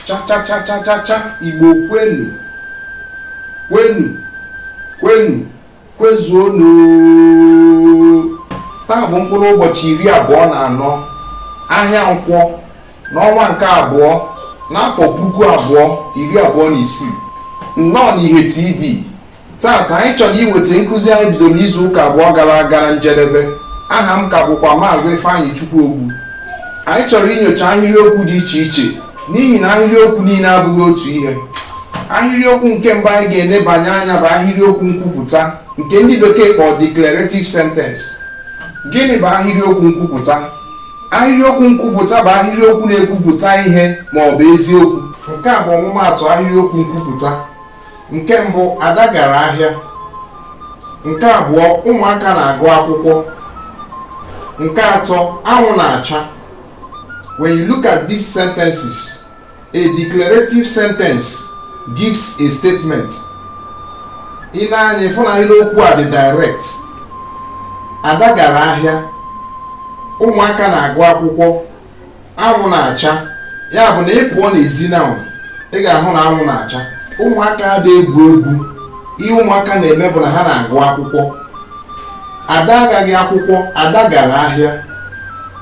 chachachachachacha igbo kwenu kwenu kwenu kwezuonu taa bụ mkpụrụ ụbọchị iri abụọ na anọ ahịa nkwọ n'ọnwa nke abụọ n'afọ puku abụọ iri abụọ na isii nnọọ n'ihe tv taata anyị chọrọ iweta nkụzi anyị bidoro izu ụka abụọ gara aga na njedebe aha m ka bụkwa maazị Ifeanyịchukwu Ogbu anyị chọrọ inyocha ahịrịokwu dị iche iche n'ihi na ahịrịokwu niile abụghị otu ihe ahịrịokwu nke mbụ anyị ga-enebanye anya bụ ahịrịokwu nkwupụta nke ndị bekee kpọrọ declarative sentence gịnị bụ ahịrịokwu nkwupụta ahịrịokwu nkwupụta bụ ahịrịokwu na-ekwupụta ihe ma ọ bụ eziokwu nke a bụ ọmụmaatụ ahịrịokwu nkwupụta nke mbụ ada gara ahịa nke abụọ ụmụaka na-agụ akwụkwọ nke atọ anwụ na-acha when you look at these sentences a declarative sentence gives a statement i nee anya ị fụ na okwu a dị direct ada gara ahịa ụmụaka na-agụ akwụkwọ anwụ na-acha ya bụ na ị pụọ n'ezi na ị ga-ahụ na anwụ na-acha ụmụaka ada egwu egwu ihe ụmụaka na-eme bụ na ha na-agụ akwụkwọ ada agaghị akwụkwọ ada gara ahịa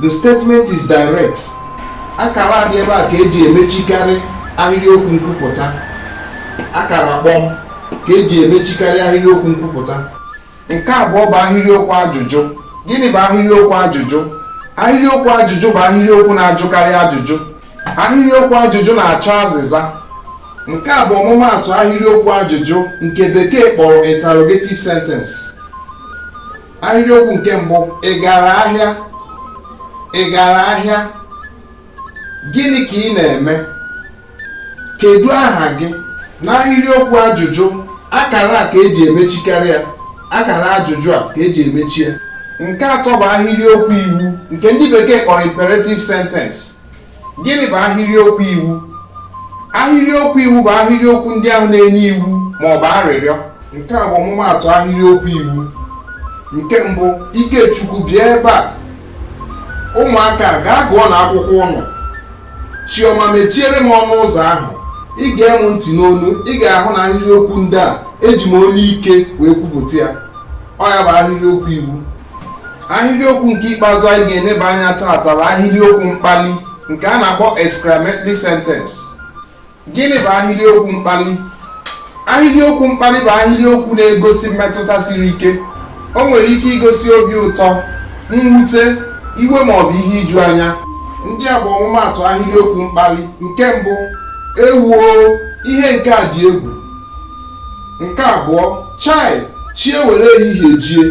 the statement is direct akara a dị ebe a ka eji emechikarị ahịrịokwu nkwupụta akara kpọm ka eji emechikarị ahịrịokwu nkwupụta nke abụọ bụ ahịrịokwu ajụjụ gịnị bụ ahịrịokwu ajụjụ ahịrịokwu ajụjụ bụ ahịrịokwu na-ajụkarị ajụjụ ahịrịokwu ajụjụ na-achọ azịza nke a bụ ọmụmaatụ ahịrịokwu ajụjụ nke bekee kpọrọ interrogative sentence ahịrịokwu nke mbụ ị gara ahịa ị gara ahịa gịnị ka ị na-eme kedu aha gị n'ahịrịokwu ajụjụ akara a ka eji emechikarị ya akara ajụjụ a ka eji emechi ya nke atọ bụ ahịrịokwu iwu nke ndị bekee kpọrọ imperative sentence gịnị bụ ahịrịokwu iwu ahịrịokwu iwu bụ ahịrịokwu ndị ahụ na-enye iwu ma ọ bụ arịrịọ nke a bụ ọmụmaatụ ahịrịokwu iwu nke mbụ ikechukwu bịa ebe a ụmụaka gaa gụọnụ akwụkwọ ụnụ chioma mechiere m ọnụ ụzọ ahụ i gee m ntị n'onu ị ga-ahụ na ahịrị okwu ndị a eji m olu ike wee kwupụta ya ọ ya bụ ahịrị okwu iwu ahịrị okwu nke ikpeazụ anyị ga-eneba anya taata bụ ahịrị okwu mkpali nke a na-akpọ exclamatory sentence gịnị bụ ahịrịokwu mkpali ahịrịokwu mkpali bụ ahịrịokwu na-egosi mmetụta siri ike o nwere ike igosi obi ụtọ mwute iwe ma ọ bụ ihe iju anya ndị a bụ ọmụmaatụ ahịrịokwu mkpali nke mbụ ewuo ihe nke a dị egwu nke abụọ chai chi ewere ehihie jie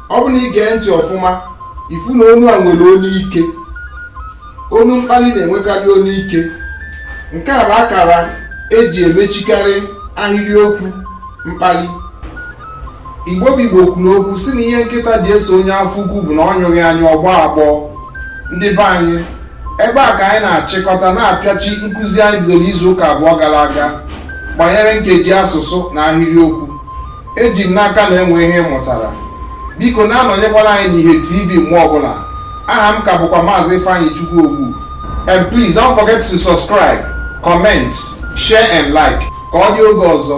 ọ bụ na ị gee ntị ọfụma ị fụ na onu a nwere onu ike onu mkpali na-enwekarị onu ike nke a bụ akara e ji emechikarị ahịrịokwu mkpali igbo bụ igbo kwuru okwu sị na ihe nkịta ji eso onye afọ ukwu bụ na ọ nyụghị anyụ ọ gbọọ agbọ ndị be anyị ebe a ka anyị na-achịkọta na-apịachi nkụzi anyị bidoro izu ụka abụọ gara aga gbanyere nkeji asụsụ na ahịrịokwu eji m n'aka na e nwe ihe ị mụtara biko na-anọnyekwara anyị n'ihe tv mgbe ọbụla aha m ka bụkwa maazị ifeanyịchukwu ogbu and please don't forget to subscribe comment share and like ka ọ dị oge ọzọ